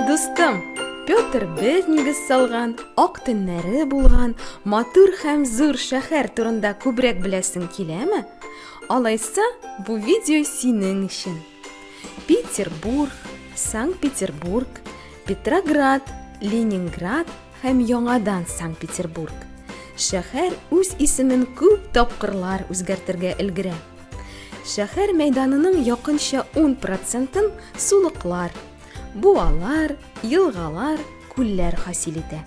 Дустым, Петр без нигез салган, ак төннәре булган, матур һәм зур шәһәр турында күбрәк беләсең киләме? Алайса, бу видео синең өчен. Петербург, Санкт-Петербург, Петроград, Ленинград һәм яңадан Санкт-Петербург. Шәһәр үз исемен күп тапкырлар үзгәртергә өлгерә. Шәһәр мәйданының якынча 10 процентын сулыклар, буалар, елгалар, күлләр хасил итә.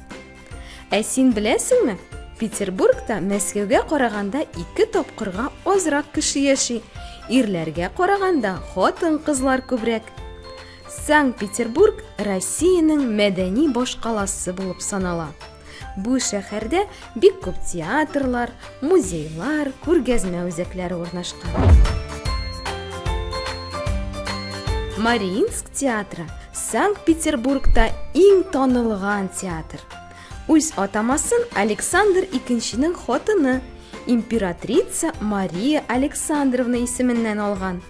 Ә син беләсеңме? Петербургта Мәскәүгә караганда ике тапкырга азрак кеше яши. Ирләргә караганда хатын-кызлар күбрәк. Санкт-Петербург Россиянең мәдәни башкаласы булып санала. Бу шәһәрдә бик күп театрлар, Музейлар, күргәзмә үзәкләре урнашкан. Мариинск театры Санкт-Петербургта иң танылган театр. Үз атамасын Александр II-нең хатыны императрица Мария Александровна исеменнән алган.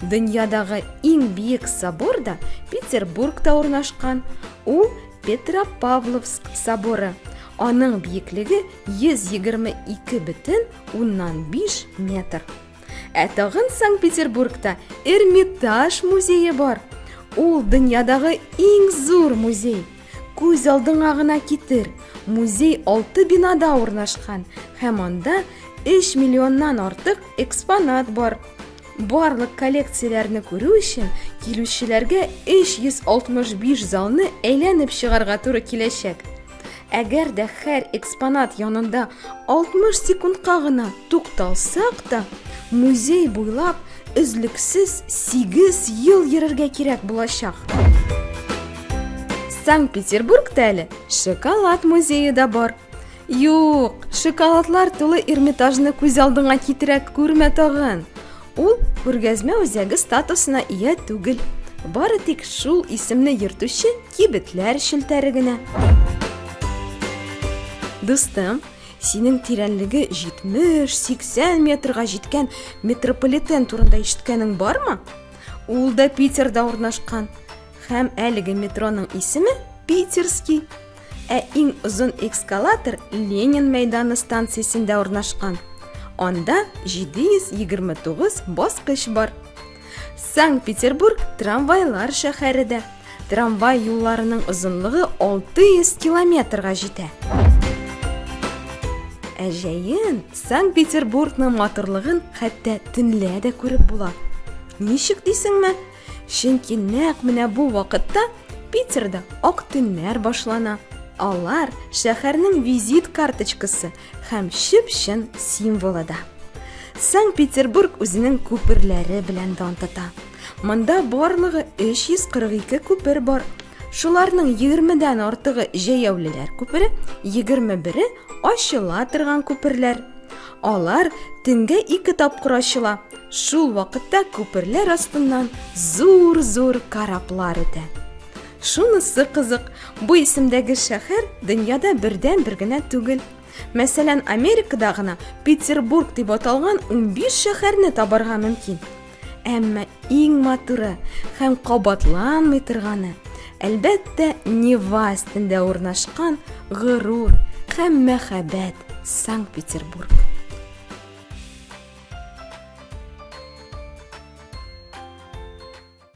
Дөньядагы иң биек собор да Петербургта урнашкан. Ул Петропавловск соборы. Аның биеклеге 122,5 метр. Ә тагын Санкт-Петербургта Эрмитаж музее бар. Ул дөньядагы иң зур музей. Күз алдыңа гына китер. Музей алты бинада урнашкан һәм анда 3 миллионнан артык экспонат бар. Барлык коллекцияләрне күрү өчен килүчеләргә 365 залны әйләнеп чыгарга туры киләчәк. Әгәр дә һәр экспонат янында 60 секундка гына тукталсак та, музей буйлап өзлексез 8 ел йөрергә кирәк булачак. Санкт-Петербургта әле шоколад музее да бар. Юк, шоколадлар тулы Эрмитажны күз алдыңа китерә күрмә тагын. Ул күргәзмә үзәге статусына ия түгел. Бары тик шул исемне йөртүче Кибетләр челтәре генә. Дустым, синең тирәнлеге 70-80 метрга җиткән метрополитен турында ишеткәнең бармы? Ул да Питерда урнашкан. Һәм әлеге метроның исеме Питерский. Ә иң озын экскалатор Ленин мәйданы станциясендә урнашкан. Анда 729 баскыч бар. Санкт-Петербург трамвайлар шәһәре дә. Трамвай юлларының озынлыгы 600 километрга җитә. Ә җәен Санкт-Петербургның матурлыгын хәтта төнлә дә күреп була. Ничек дисеңме? Чөнки нәкъ менә бу вакытта Питерда ак төннәр башлана. Алар шәһәрнең визит карточкасы Һәм чып-чын символы да. Санкт-Петербург үзенең күперләре белән дан тота. Монда барлыгы 342 күпер бар. Шуларның 20-дән артыгы җәяүлеләр күпере, 21-е ачыла торган күперләр. Алар төнгә ике тапкыр ачыла. Шул вакытта күперләр астыннан зур-зур кораблар үтә. Шунысы кызык, бу исемдәге шәһәр дөньяда бердән-бер генә түгел. Мәсәлән, Америкада гына Петербург дип аталган 15 шәһәрне табарга мөмкин. Әмма иң матуры һәм кабатланмый торганы, әлбәттә, Нева өстендә урнашкан горур һәм мәхәббәт Санкт-Петербург.